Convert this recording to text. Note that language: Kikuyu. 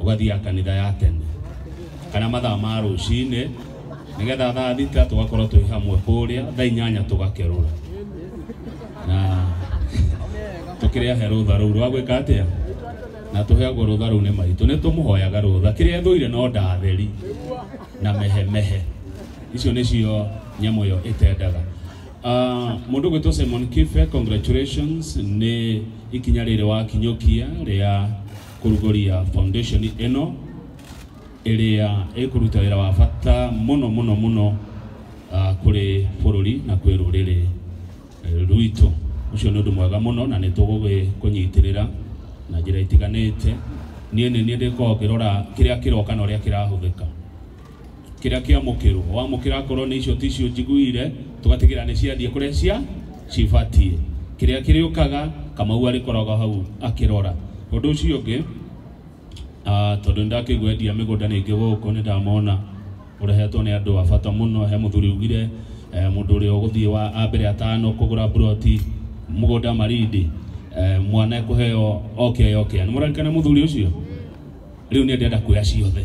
ugathiaga kanitha ya tene kana mathaa ma rũcinĩ nigetha thaa thita tugakorwo twĩ hamwe kũrĩa thaa inyanya tũgakerũra na tukĩrehe rũtha rũu rwa gwĩka atĩa na tũheagwo rũtha rũu nĩ maitũ nĩ tũmũhoyaga rũtha kĩrĩa ethũire no ndatheri na mehemehe icio nĩcio nyamũ ĩyo ĩtendaga Ah, mũndũ gwĩtwo Simon Kife congratulations nĩ ikinya rĩrĩ wakinyũkia rĩa kũrugũria foundation ĩno ĩrĩa ĩkũruta wĩra wa bata mũno mũno mũno uh, kũrĩ bũrũri na kwĩ rũrĩrĩ eh, rwitũ ũcio nĩ ũndũ mwega mũno na nĩ tũgũkũnyitĩrĩra na njĩra itiganĩte niĩ nĩ niĩ ndĩkoragwo ngĩrora kĩrĩa kĩroka na ũrĩa kĩrahũthĩka kĩrĩa kĩamũkĩrwo wamũkĩra akorwo nĩ icio ticio njiguire tũgatigĩra nĩ ciathiĩ kũrĩa cia cibatiĩ kĩrĩa kĩrĩũkaga kamau arĩkoragwo hau akĩrora ũndũ ũcio ũngĩ ah, tondũ nĩ ndakĩigua endia mĩgũnda nĩ ingĩ gũkũ nĩ ndamona ũrehetwo nĩ andũ a bata mũno he mũthuri ugire eh, mũndũ ũrĩa ũgũthiĩ wa a mbere atano kũgũra mburoti mũgũnda marindi eh, mwana ekũheo oke oke nĩ mũrarikana mũthuri ũcio rĩu nĩ ndĩrenda kuoya ciothe